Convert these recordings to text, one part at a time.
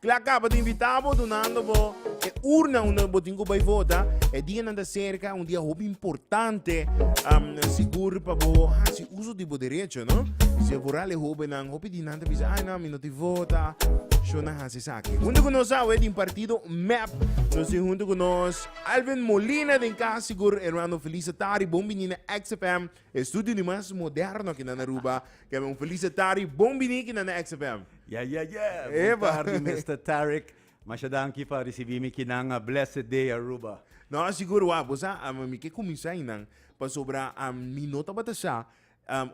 Cla caba ta invita bo dunando bo e urna unda bo tin cu bay vota. E dianan ta cerca, un dia hopi importante, um, sigur pa bo haci uso di bo derecho, no? Si a vooral e hobennan, hopi di nan ta bisa, ay no, mi no tin vota, sho nan haci esaki. Hunto cu nos awe den partido mep, nos tin hunto cu nos Alvin Molina den cas, sigur hermano Felice Tari, bon bini na XFM. E studio di mas moderno ki nan Aruba. Kebbe un felice tardi. Bon bini kinan na XFM. Yeah yeah yeah! Bon tardi Mister Tarek. Masha danki pa risibi mi kinan. A blessed day Aruba. No, sigur wak. Bo sa, mi ke kuminsá einan pasobra mi no tabata sa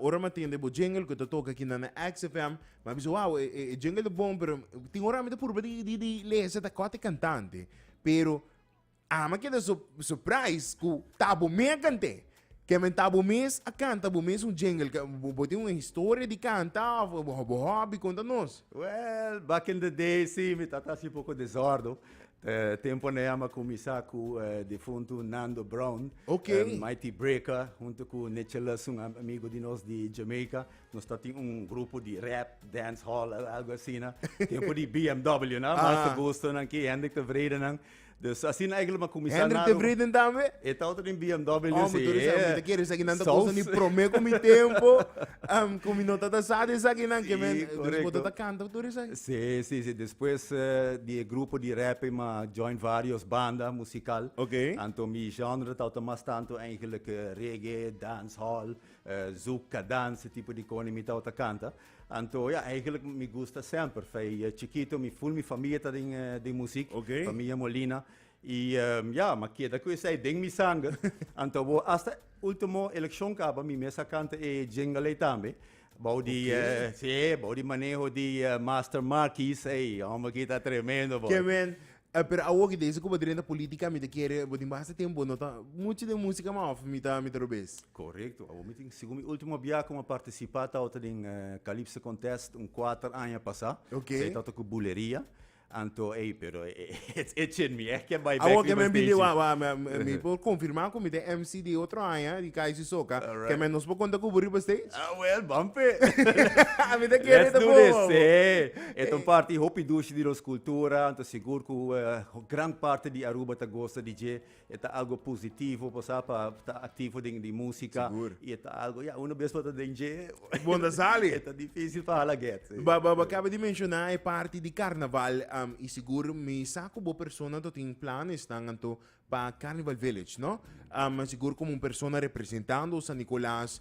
ora mi a tende bo jingle ku ta toka kinan na XFM. Mi a bisa, wow, e jingle ta bon, pero tin ora mi ta purba di di di lesa ta kòt e kantante. Pero Ama keda su surprise ku ta bo me a kant'e. Ke men ta bo mes a kanta bo mes un jingle ke bo tin un historia di kanta of bo hobby konta nos. Well, back in the day si mi tata hasi poko desòrdo. Temponan a mi a kuminsá ku e difuntu Nando Brown. Ok. Mighty Breaker huntu ku Nicholas un amigu di nos di Jamaica. Nos ta tin un grupo di rap, dancehall, algu asina. Tempu di BMW nan, Master Gustonan, Key Hendrick Tevredenan. Dus asina e lo kuminsá Hendrik de Vries tambe? E tawata den BMW Oh, mi tur di sa, mi ta kere esaki nan ta kosa mi promé ku mi tempu, ku mi no tabata sa di esakinan ke men, dus bo tabata kanta ku tur esaki? Si, si, si, despues di e grupo di rèpè mi a join vários banda musikal. Ok. Anto mi genre tabata mas tantu eigentlik reggae, dancehall, zouk, kadans, e tipo di kònen mi tabata kanta. Anto ya, eigenlijk mi gusta semper. Fei eh, chikito mi full mi familia ta den, eh, den muziek, Ok. familia Molina. I ehm, ya, ma keda ku esei den mi sanger. Anto bo hasta ultimo elekshon kaba mi mes a kanta e jingle ei tambe. Bou di, Ok. eh, si, bou di maneho di eh, Master Markies, ei, homber kita tremendo boy. Ke men, Eh, pero awor ki dezi ku bo drenta politika mi ta kere bo tin basta tempu bo no ta muchu den musika man of mi ta mi ta robes. Korekto, awor mi tin segun mi ultimo bia ku mi a partisipa tabata den Kalipso Kontèst un kuater aña pasá, Ok. sei tabata ku Buleria, anto ei pero e chin mi eh ke bai bèk Awor ke riba men bini wa steji. wa mi mi mi por konfirmá ku mi ta MC di otro aña di KIC Soca, ke Alright. men nos por konta ku bo riba steji? Ah, well, ban pe. Mi ta kere Let's ta do bon, this, awor. sí. E ta un parti hopi dushi di nos kultura, anto sigur ku gran parti di Aruba ta gosa di dje. E ta algo positivo pasá pa ta aktivo den di músika i e ta algo ya unu bes pa ta den dje Bon ta sali. e ta difísil pa hala gèt. Bo bo kaba di menshoná e parti di karnaval i sigur mi sa ku bo persona anto tin planesnan anto pa Carnival Village, no? Sigur komo un persona representando San Nicolas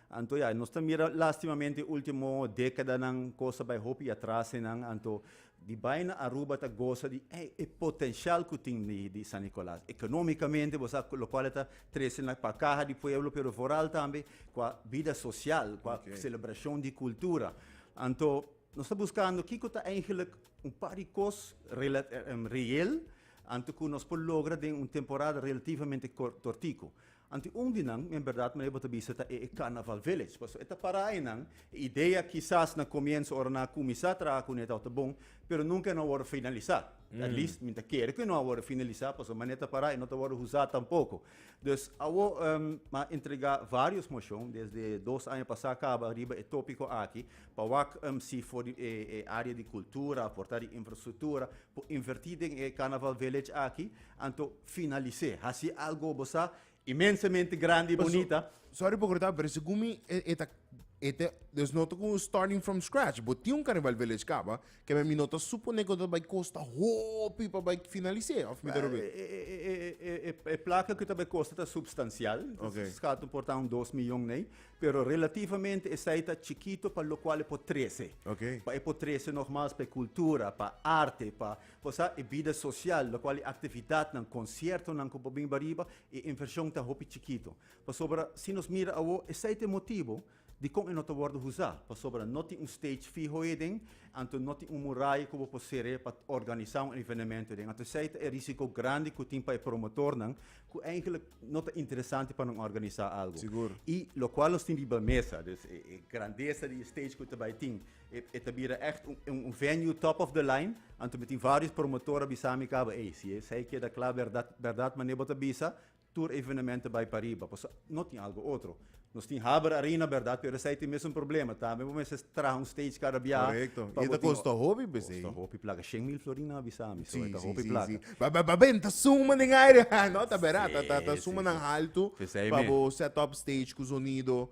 Anto ya, nos ta mira lastimamente ultimo dekadanan kos ta bai hopi atras enan, anto di bai na Aruba ta gosa di e potenshial ku tin di San Nikolas, ekonomikamente bo sa lo kual e ta trese na pa kaha di pueblo pero foral tambe kua bida sosial, kua selebrashon di kultura. Anto nos ta buskando kiko ta eigenlik un par di kos reyel anto ku nos por logra den un temporada relativamente kortiku. Anto un di nan, mi a berdad manera bo ta bisa ta e e Carnaval Village, pasobra e ta para ainan. E idea kisas na comienso ora nan a cuminsa traha cun e tawata ta bon, pero nunca e no a wordo finalisa. At least mi ta kere cu e no a wordo finalisa, pasobra manera e ta para e no ta wordo husa tampoco. Dus awo mi a entrega varios mocion, desde dos aña pasa caba, riba e topico aki, pa wak si for di e e area di cultura, for ta di infrastructura, por inverti den e Carnaval Village aki. Anto finalis'é. Hasi algo bo sa inmensamente grandi i bonita. Sorry pa cortá, pero segun mi e ta e ta dus no ta como starting from scratch. Bo tin un Carnival Village caba, ke men mi no ta suponé ku ta bai kosta hopi pa bai finalis'é, of mi ta rob'é? E plaka ku ta bai kosta ta substancial, skato por ta un dos miyon nei, pero relativamente esei ta chikito pa lokual e por trece. Pa e por trece nog mas pa e cultura, pa arte, pa. Por sa e bida sosial, lokual e aktividatnan, konsiertonan ku por bin riba riba, e invershon ta hopi chikitu. Pasobra si nos mira awo, esei ta e motibu dikon e no ta wòrdu usá. Pasobra no tin un stage fiho heden, anto no tin un muraya ku bo por ser'é pa organisá un evenementu heden. Anto esei ta e rísiko grandi ku tin pa e promotornan, ku eigenlik no ta interesante pa nan organisá algu. Sigur. I lokual nos tin riba mesa, e grandesa di e stage ku ta bai tin. E, e ta bira echt un, un, un venue top of the line. Anto mi tin varios promotor a bisa mi cabo, hey, si es hey queda klaar verdad, verdad, maar nebo ta bisa, tur evenementen bai pa riba. Paso no tin algo otro. Nos tin Haber Arena, verdad, pero esai tin mesun problema. Tambe bo mester traha un stage cada biaha. Correcto. pa Y bo eta tin- costa hopi, pues, Kost eh. a hopi plaka. 100 mil florin na bisa mi, so Sí, eta sí, hopi sí, plaka. sí. Ba, ba, ba, ben, ta suma den aire. Ah, no, ta berat. Ta, ta, ta Sí, suma sí, nan sí. alto. Pesei pa mi. bo set up stage cu sonido.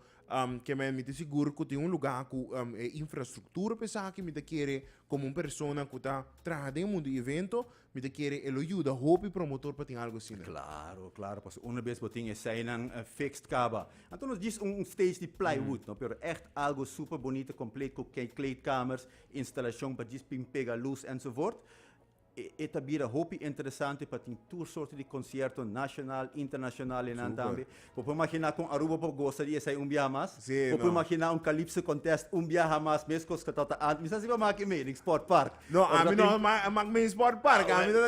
Ke men mi ta sigur ku tin un lugá ku e infrastruktura pa esaki. Mi ta kere komo un persona ku ta traha den e mundu di evento, mi ta kere e lo yuda hopi promotor pa tin algu asina. Klaro, klaro, pasobra una bes bo tin eseinan fixt kaba, anto nos djis un stage di plywood no, pero ègt algu super bonito kompleet ku kleedkamers, instalashon pa djis pin pega lus enzovoort. E ta bira hopi interesante pa tin tur sorto di concierto nacional, internacional enan tambe. Bo por imaginá con Aruba por goza di esei un biaha mas? Bo por imaginá un Calypso Contest un biaha mas, mescos cu tabata antes? Mi sa si bo a mak e mening Sport Park. No, ami no a mak mening Sport Park. Ami ta.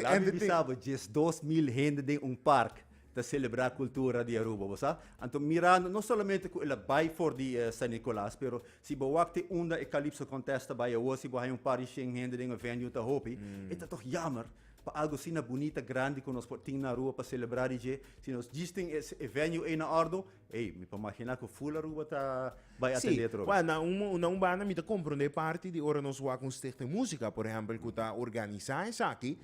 Laat mi bisa bo, diesdos mil hende den un park. ta celebra cultura di Aruba bo sa, anto mirando no solamente cu el a bay for di San Nicolas pero si bo wak te unda e Calypso Contest ta bay awo si bo haya un par di shen hende den e venue ta hopi e ta toch jammer pa algo asina bunita grandi cu nos por tin na Aruba pa celebra di dje si nos djis tin e venue ey na ordo Ey, mi por magina cu full Aruba ta bay a tende otro vez. Sí, bueno, na un banda mi ta comprende e parti di ora nos wak un Stichting Musica, por ehempel, cu ta organiza esaki,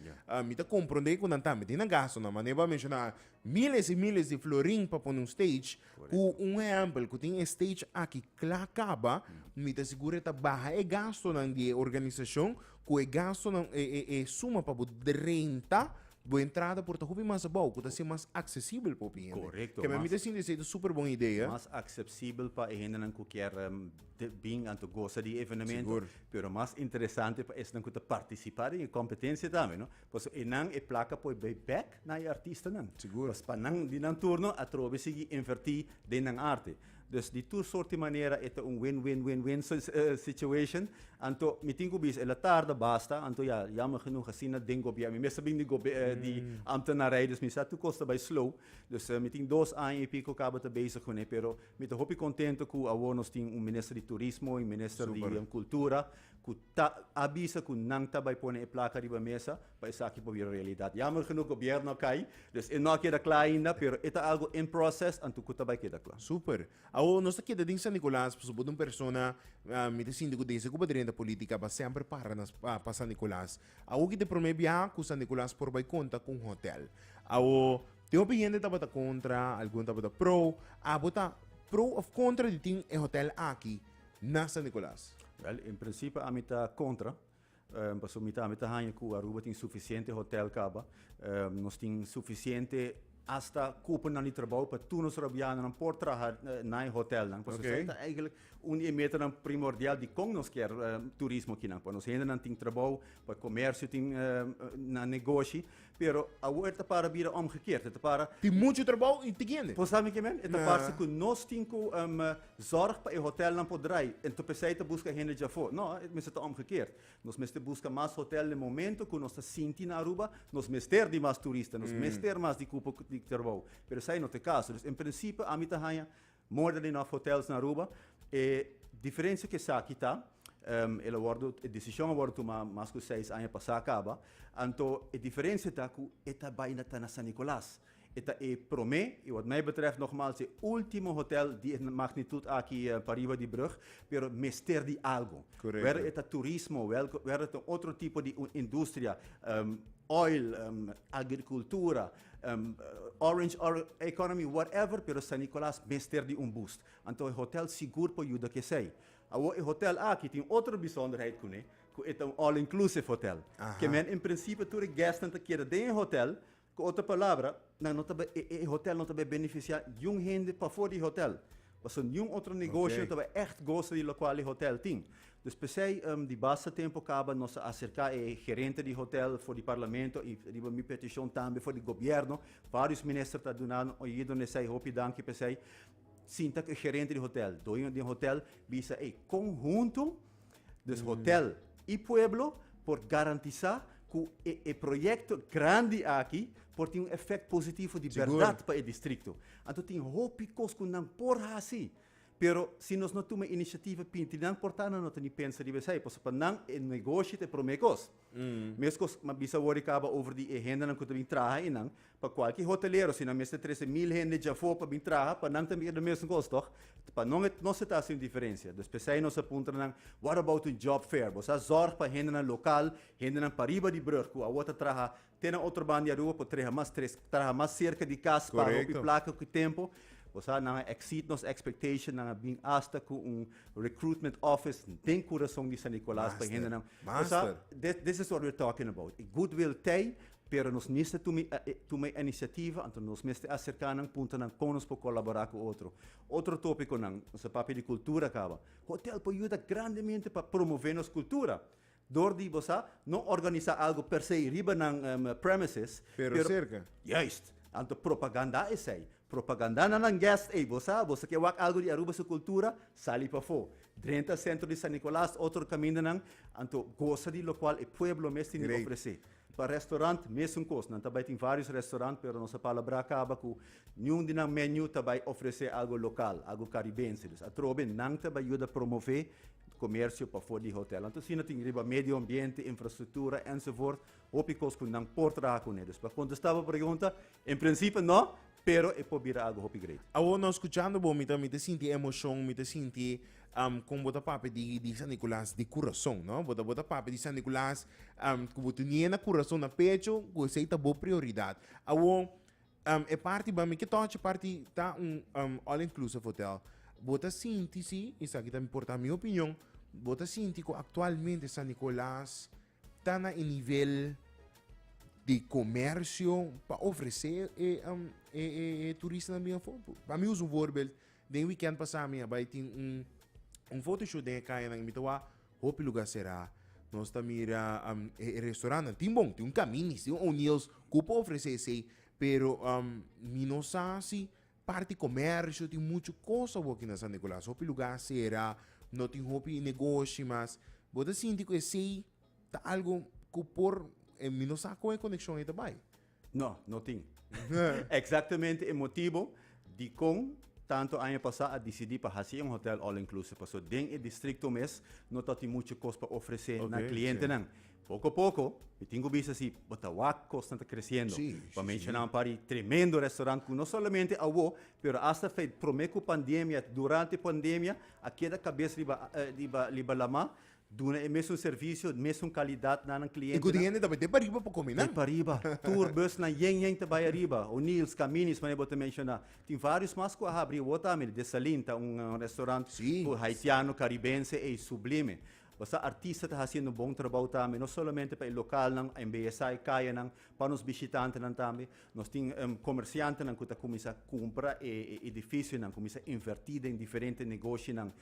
mi ta comprende cu nan ta meti nan gastonan. M'a Neba a menciona miles y miles di florin pa pone un stage, cu un ehempel, cu tin e stage aki cla caba, mi ta sigur e ta baha e gastonan di e organisacion, ku e gastonan, e e e suma pa bo renta bo entrada por ta hopi mas abou, ku ta ser mas aksesibel pa hopi hende. Korekto, Keme mi mas- ta sinti esei ta super bon idea. Mas aksepsibel pa e hendenan ku kier em, te bin anto gosa di e evenemento. Sigur. Pero mas interesante pa esnan ku ta partisipá den e kompetensia tambe, no? Pasobra enan e plaka por bay bek na e artistanan. Pues pa nan di nan turno atrobe sigui inverti den nan arte. Dus di tur sort di manera e ta un win-win-win-win situation. Anto mi tin ku bisa el a tarda basta, anto ya yammer genoeg asina den gobier. Mi mes ta bini di ambtenarij dus mi sa tur kos ta bay slow. Dus mi tin dos aña i piko kaba ta bezig ku ne. Pero mi ta hopi kontento ku awor nos tin un minister di turismo i un minister di kultura ku. ta a bisa cu nan ta bay pone e placa riba mesa pa esaki por bira realidad. Jammer genoeg gobierno a cay, dus e no a keda cla ainda, pero e ta algo in process anto cu ta bay keda cla. Super. Awor nos ta keda den San Nicolas pasobra bo ta un persona, mi ta sinti cu desde cu bo ta drenta politica bo a semper para na pa San Nicolas. Awor ki ta e prome biaha cu San Nicolas por bay conta cu un hotel. Awor tin hopi hende tabata contra, algun tabata pro. Abo ta pro of contra di tin e hotel aki? na San Nicolas? Wel, en principio ami ta contra, pasobra mi tambe ta haña cu Aruba tin suficiente hotel caba. Nos tin suficiente hasta cuponan di trabou pa tur nos Arubianonan por traha na e hotelnan. Pasobra esei ta eigenlijk un di e metanan primordial di con nos kier turismo akinan. Pa nos hendenan tin trabou, pa e comercio tin na negoshi, Pero awor e ta para bira òmgekeerd, e ta para. Tin muchu trabou i tin hende. Por sabe ke men? E ta parse ku nos tin ku zòrg pa e hotèlnan por drai, ento p'esei ta buska hende dja afó. Nò, e mester ta òmgekeerd. Nos mester buska mas hotèl den momentu ku nos ta sinti na Aruba nos mester di mas turista, nos mester mas di kupo di trabou. Pero esei no ta e kaso. Dus en prinsipe ami ta haña. Morda di nòf hotels na Aruba. E diferensia ku esaki ta, el a wòrdu, e desishon a wòrdu tumá mas ku seis aña pasá kaba, anto e diferensia ta ku e ta bai na ta na San Nikolas. E ta e promé i wòt mei betrèf nògmals e último hotel di e magnitut aki pariba di brùg, pero mester di algu. Wèrdè e ta turismo, wèrdè e ta un otro tipo di un industria, oil, agrikultura. orange economy whatever pero San Nicolas mester di un boost anto e hotel sigur por yuda cu esey. Awor e hotel aki tin otro bisonderheid cune cu e ta un all inclusive hotel ke men en principio tur e guestnan ta keda den e hotel cu otro palabra nan no ta bay e hotel no ta bay beneficia jun hende pafor di e hotel Pasobra niun otro negoshi no tabata echt gosa di lokual e hotel tin. Dus p'esei di basta tempu kaba nos a aserká e gerente di hotel for di parlamento i riba mi petishon tambe for di gobièrnu. Vários minister ta duna un oido n'esei. Hopi danki p'esei. Sinta ku e gerente di hotel, doño di e hotel, bisa ei kon huntu Dus hotel i pueblo por garantisá ku e e proyekto grandi aki por tin un efèkt positivo di bèrdat pa e distrikto. Anto tin hopi kos ku nan por hasi, pero si nos no tuma inisiativa pinti nan por ta nan no ta ni pensa riba esei, pasobra pa nan e negoshi ta e promé kos. Meskos, m'a bisa wòrdu i kaba over di e hendenan ku ta bin traha einan. Pa kualke hotelero, si nan mester trese mil hende dja afó pa bin traha, pa nan tambe ta mesun kos, tòg? Pa no, no se ta hasi un diferensia. Dus p'esei nos a puntra nan, What about un job fair? Bo sa zòrg pa hendenan lokal, hendenan pariba di brùg ku awor ta traha Te na otro banda di Aruba por treha mas tres, traha mas cerca di cas pa hopi placa cu tempo. Bo sa, nan a exceed nos expectation, nan a bin hasta cu un recruitment office den curason di San Nicolas pa e hendenan. Bo sa, this, this is what we're talking about. E goodwill t'ei, pero nos mester tuma e, tuma e iniciativa, anto nos mester acerca nan, punta nan con nos por colabora cu otro. Otro topiconan, nos a papia di cultura caba. Hotel por yuda grandemente pa promove nos cultura. Dor di bo sa, no organisá algu per se riba nan premises, pero serka. Juist. Anto propagandá esei. Propagandá na nan guest ei, bo sa, bo ta ke wak algu di Aruba su kultura, sali pafó. Drenta Sentro di San Nicolas, otro kamindanan, anto gosa di lokual e pueblo mes tin di ofresé. Pa restaurant mesun kos, nan ta bai tin varios restaurant pero nos a palabrá kaba ku niun di nan menu ta bai ofresé algu lokal, algu karibense. Dus atrobe nan ta bai yuda promové komersio pafó di hotèl. Anto asina tin riba medio ambiente, infrastruktura ensevoort hopi kos ku nan por traha kuné. Dus pa kontestá bo pregunta, en prinsipio no. Pero e por bira algu hopi great. Awor no scuchando bo mi ta mi ta sinti emocion mi ta sinti am con bo ta papia di di San Nicolas di curason no bo ta bo ta papia di San Nicolas am cu bo tenia na curason na pecho cu esey ta bo prioridad awor am e parti ban mi ke touch e parti ta un am all inclusive hotel bo ta sinti si esaki ta mi por ta mi opinion bo ta sinti cu actualmente San Nicolas Ta na e nivel di comercio pa ofrece e turistanan bin afo. Pa mi usa un voorbeeld, den weekend pasa mi a bay tin un fotoshoot den e cayanan y mi ta wak hopi lugar cera. Nos ta mira e restaurantnan, tin bon, tin un Camini's, tin un O'Neil's cu por ofrece esey pero mi no sa si Parti comercio tin mucho cosa bo aki na San Nicolas. Hopi lugar a cera, no tin hopi negoshi mas. Bo ta sinti cu esey ta algo cu por, mi no sa con e coneccion ey ta bay. No, no tin. Exactamente e motibo dicon tanto aña pasa a dicidi pa haci un hotel all-inclusive pasobra den e districto mes no ta tin mucho cos pa ofrece na clientenan. Poko poko, mi tin ku bisa si bo ta wak kosnan ta kresiendo. Pa menshona un par di tremendo restorant ku no solamente awo, pero asta fe promé ku pandemia, durante pandemia a keda kabes riba riba riba lamá, duna e mesun servisio, e mesun kalidat na nan klientenan. I ku tin hende tambe dep ariba pa kominan. Dep ariba. Tur busnan yen yen ta bai ariba. O'Neil's, Camini's, manera bo ta menshoná. Tin vários mas ku a habri awor tambe. Dessalines ta un restorant ku haitiano, karibense ei sublime. Basta artista ta hasiendo bon trabou tambe, no solamente pa e lokalnan a embeyesá e kayanan, pa nos bishitantenan tambe. Nos tin komersiantenan ku ta kuminsá kumpra e edifisionan, kuminsá invertí den diferente negoshinan.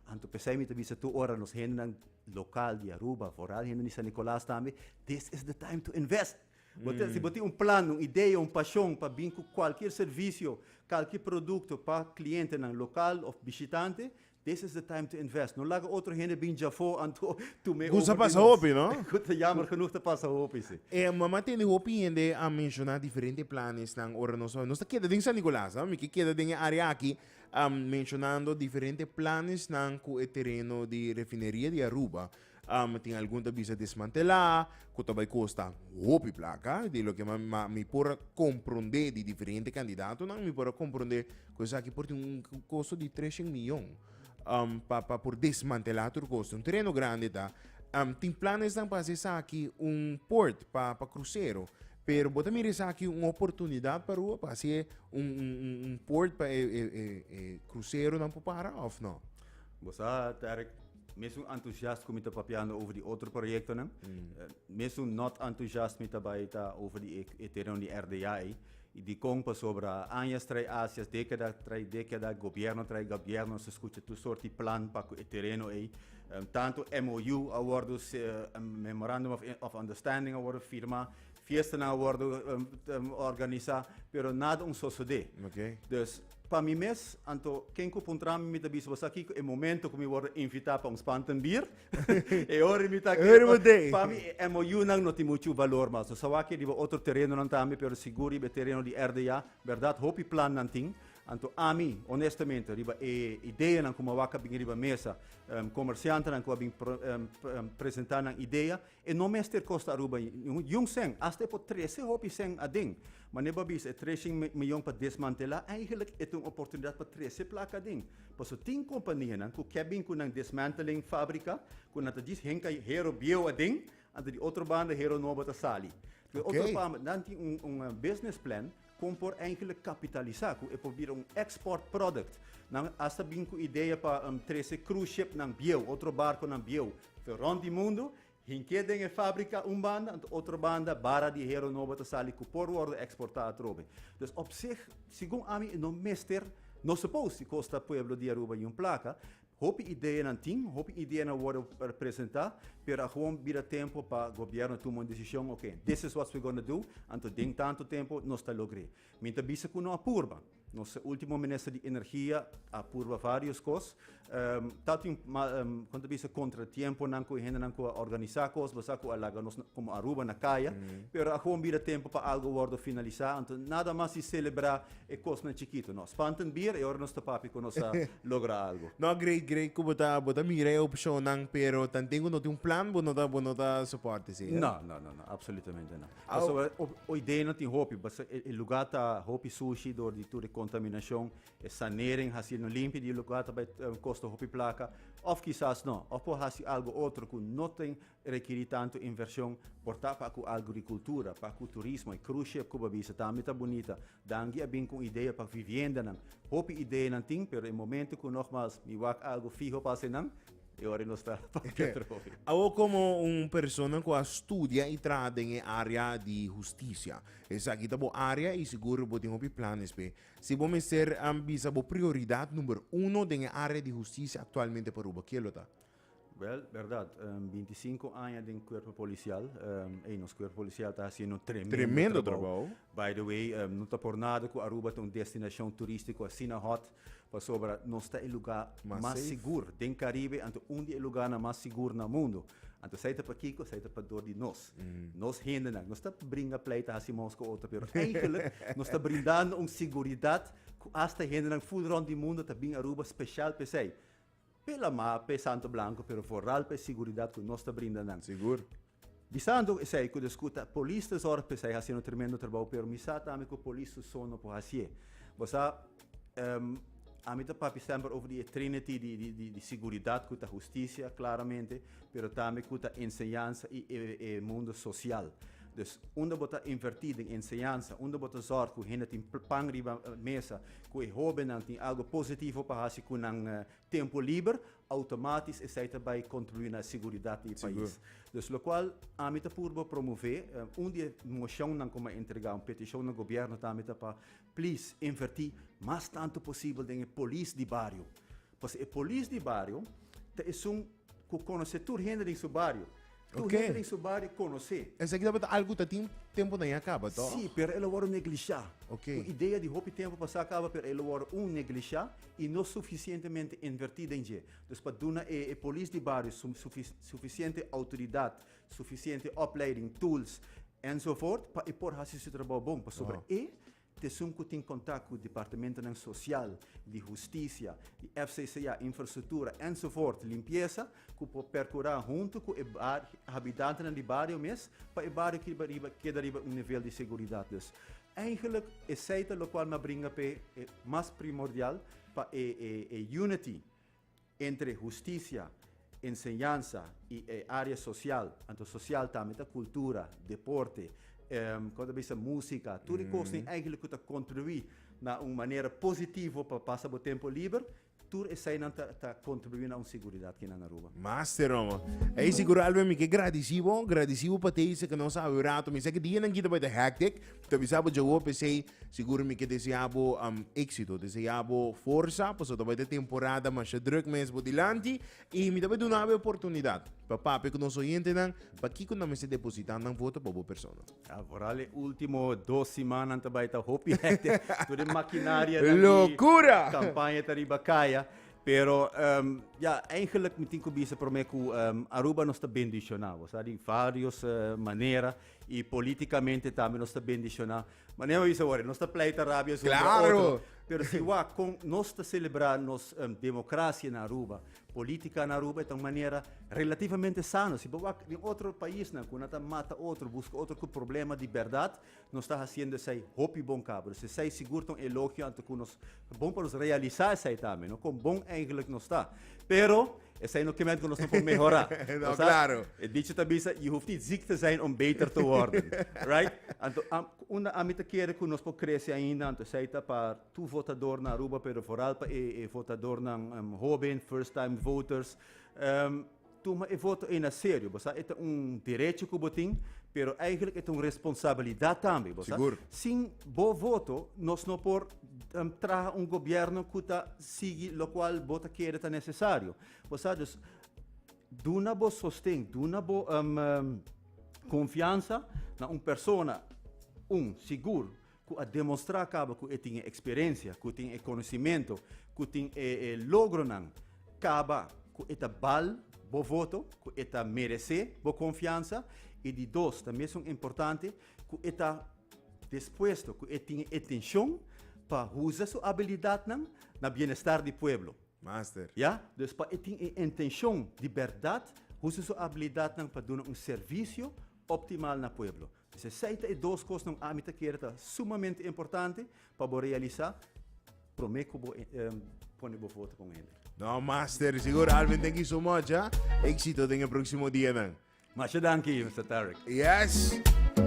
Anto p'esei mi ta bisa tur ora nos hendenan lokal di Aruba, foral hende di San Nikolas tambe, this is the time to invest! Bo ta, si bo tin un plan, un idea, un pashon pa bin ku kualkier servisio, kalkier produkto pa klientenan lokal òf bishitante, This is the time to invest. No laga otro hende bin dja afó anto tum'é Cu sa over di pasa nos. hopi, no? Cu ta jammer genoeg ta pasa hopi, si. E mama tin di hopi hende a menciona diferente planesnan ora nos a nos ta keda den San Nicolas, a mi ke keda den e area aki, am, mencionando diferente planesnan cu e tereno di Refineria di Aruba Um, tin algun ta bisa desmantelá, ku ta bai kosta hopi plaka. Di loke ma, ma mi por a komprondé di diferente kandidatonan, mi por a komprondé ku esaki por tin un kosto di tres shen miyon um, pa, pa por desmantelá tur kos. Un tereno grandi ta. Um, tin planesnan pa hasi esaki un port pa, pa krusero. Pero bo ta mira esaki un oportunidat pa Aruba pa hasi un, un, un, un port pa e, e, e, e kruseronan por para òf no? Bo sa, Terk, Mesun entusiast ku mi ta papiando over di otro proyektonan, mesun not entusiast mi ta bai ta over di e tereon di RDA ei. I dikon? Pasobra añas trai acias, dekada trai dekada, gobièrnu trai gobièrnu nos ta skucha tur sort di plan pa ku e tereno ei. Tantu MOU a wòrdu, Memorandum of Understanding, a wòrdu firmá, fiestanan a wòrdu organisá, pero nada un sosodé. Dus. Pa mi mes, anto ken ku puntra mi, mi ta bisa bo sa kiko e momento ku mi wòrdu invitá pa un spantenbier. e ora mi ta kere bo dei. Pa mi e MOUnan no tin muchu balor mas. Nos a wak riba otro terenonan tambe, pero sigur riba e tereno di RDA, bèrdat hopi plannan tin. Anto ami, onestamente, riba e ideanan ku mi a wak a bini riba mesa, komersiantenan ku a bini presentá nan idea, E no mester kosta Aruba niun sèn, asta e por trese hopi sèn aden. Mane bo a bisa, e tres shin miyon pa desmantelá, eigenlik e ta un oportunidat pa trese plaka aden. Paso tin kompanianan ku ke bin ku nan desmantling fábrika ku nan ta djis henka Hero bieu aden, anto di otro banda Hero nobo ta sali. Otro pama, nan tin un business plan. Kon por Enkele kapitalisá ku e por bira un export product? Nan asta bin ku idea pa trese cruise ship nan bieu, otro barko nan bieu, for rond di mundu, hink'é den e fábrika un banda, anto otro banda bara di hero nobo ta sali ku por wòrdu eksportá atrobe. Dus op sih, segun ami, e no mester, no supos di kosta pueblo di Aruba i un plaka, Hopi ideanan tin, hopi ideanan worde presenta, pero a gewoon bira tempo pa gobierno tuma un decision, ok, this is what we gonna do, anto den tanto tempo nos ta logr'e. Mi ta bisa cu no a purba. Nos ultimo minister di Energia a purba varios cos. Tatin con ta bisa contratiemponan cu e hendenan cu a organisa cos basa cu a laga nos como Aruba na caya, pero a gewoon bira tempo pa algo worde finalisa, anto nada mas di celebra E kosnan chikito no spantan bier e ora nos ta papia ku nos a logra algu. No, great, great ku bo ta bo ta mira e opshonnan, pero tanten ku no tin un plan bo no ta bo no ta sopòrta esei. No, no, no, no, apsolutamente no. Pasobra ho hoidei no tin hopi, basta e e luga ta hopi sushi dor di tur e kontaminashon, e sanering hasi no limpia di e luga ta bai kosta hopi plaka, òf kisas no, òf por hasi algu otro ku no tin Rekirí tantu invershon por ta pa ku agrikultura, pa ku turismo, e kruz ship ku bo a bisa tambe ta bunita. Dangui a bin ku un idea pa viviendanan. Hopi ideanan tin, pero e momentu ku nogmas mi wak algu fiho pa hasi nan, e ora nos ta pa Petroy. Awo komo un persona ku a studia i traha den e área di hustisia, esaki ta bo área i sigur bo tin hopi planes p'e. Si bo mester bisa bo prioridat number uno den e área di hustisia aktualmente pa Aruba, ke lo ta? Wel, berdad, binti i sinku aña den kuerpo polisial. Ey, nos kuerpo polisial ta hasiendo tremendo trabou. By the way, no ta por nada ku Aruba ta un destinashon turístiko asina hot, pasobra nos ta e lugá mas sigur den Karibe, anto un di e lugánan mas sigur na mundu. Anto esei ta pakiko? Esei ta pador di nos, nos hendenan. Nos ta bringa pleita, hasi mous ku otro, pero eigelik nos ta brindando un siguridat ku asta hendenan ful rònt di mundu ta bin Aruba speshal p'esei. Pe lama, pe santo blanco, pero vooral pe siguridad cu nos ta brinda nan. Sigur. Bisando esai cu descu ta polis ta zorg pe esai haciendo tremendo trabao, pero mi sa tambe cu polis su so no por hacié. Bo sa, ami ta papia semper over di e trinity di siguridad cu ta husticia, claramente, pero tambe cu ta enseñansa y e mundo social. Dus, unda bo ta inverti den enseñansa, unda bo ta zorg cu hende tin pan riba mesa, Ku e hóbennan tin algu positivo pa hasi ku nan tempu liber, outomátis esei ta bai kontribuí na e seguridat di e pais. Dus lokual, ami ta purba promové un di e moshonnan ku mi a entregá, un petishon na gobièrnu ta mita pa, plis, invertí mas tantu posibel den e polis di bario. Pues e polis di bario ta esun ku konosé tur hende den su bario. Tur Oké. hende den su bario konosé. Esaki tabata algu ku ta tin tempu na ya kaba, tò? Sí, pero el a wòrdu neglishá. Oké. Un idea di hopi tempu pasá kaba, pero el a wòrdu, un, neglishá i no sufisientemente invertí den dje. Dus pa duna e polis di bario su sufi sufisiente outoridat, sufisiente opleiding, tools, ensofort, pa e por hasi su trabou bon pasobra Wou. e. T'esun ku tin kontak ku departamentunan sosial, di hustisia, di FCCA, infrastruktura, ensovoort, limpiesa, ku por perkurá huntu ku e habitantenan di bario mes pa e bario keda riba keda riba un nivel di seguridat. Dus eigenlik esei ta lokual m'a bringa p'e mas primordial pa e e e unity Entre husticia, enseñansa y e area social, anto social tambe ta cultura, deporte, como ta bisa musica, tur e cosnan eigenlic cu ta contribui na un manera positivo pa pasa bo tempo liber, tur esainan ta ta contribui na un seguridad kinan Aruba. Master omo. Ey sigur Alvin mi ke gradici bo, gradici bo pa tei esaki nos a habi un rato. Mi sa ke dianan kita bai ta hectic, ta bisa bo dje hopi esey. Sigur mi ke deseá bo éksito, deseá bo forsa, pasobra ta bai ta temporada masha drùk mes por dilanti i mi ta bai duna bo e oportunidat pa papia ku nos oyentenan pa kiko nan mester depositá nan voto pa bo persona. A foral e último dos simannan ta bai ta hopi hèkte. Tur e makinarianan di kampaña ta riba kaya. Pero, ya, eingelik mi tin ku bisa promé ku Aruba nos ta bendishoná, bo sa, di vários manera. Y politicamente tambe nos ta bendiciona. Ma neo isa wari, nos ta pleita rabia su contra otro. Claro! Pero si wak con nos ta celebra nos em, democracia na Aruba, politica na Aruba, e ta un manera relativamente sano. Si bo wak den otro paisnan cu nan ta mata otro, busca otro cu problema di berdad, nos ta haciendo esai hopi bon cabros. Esai sigur ta un elogio anto cu nos Bon pa nos realisa esai tambe, no? Kon bon eigenlik nos ta. Pero esai no kementi ku nos no por mehorá. no, klaro. E dichi ta bisa, je hoeft niet ziek te zijn om beter te worden. right? Anto, am, unda ami ta kere ku nos por krese ainda, anto esai ta pa tur votadornan Aruba, pero vooral pa e, e votadornan um, hoben, first time voters. Um, Tuma e voto ei na serio, bo sa, e ta un derecho ku bo tin, pero eigenlijk e ta un responsabilidat tambe, bo sa. Sigur. Sin bo voto nos no por traha un gobièrnu ku ta sigui lokual bo ta kere ta nesesario, bo sa. Dus duna bo sosten, duna bo konfiansa na un persona, un, sigur, ku a demostrá kaba ku e tin e eksperensia, ku tin e konosimentu, ku tin e logronan, kaba ku e ta bal bo voto, ku e ta meresé bo konfiansa, i di dos, ta mesun importante, ku e ta dispuesto, ku e tin e intenshon pa usa su abilidatnan na bienestar di pueblo. Master. Ya, dus pa e tin e intenshon di bèrdat usa su abilidatnan pa duna un servisio optimal na pueblo. P'esei esei ta e dos kosnan ami ta kere ta sumamente importante pa bo realisá promé ku bo pone bo voto pa un hende. No, master, sigur Alvin thank you so much, ha? Éxito den e próksimo dianan. Masha danki, Mister Tarek. Yes!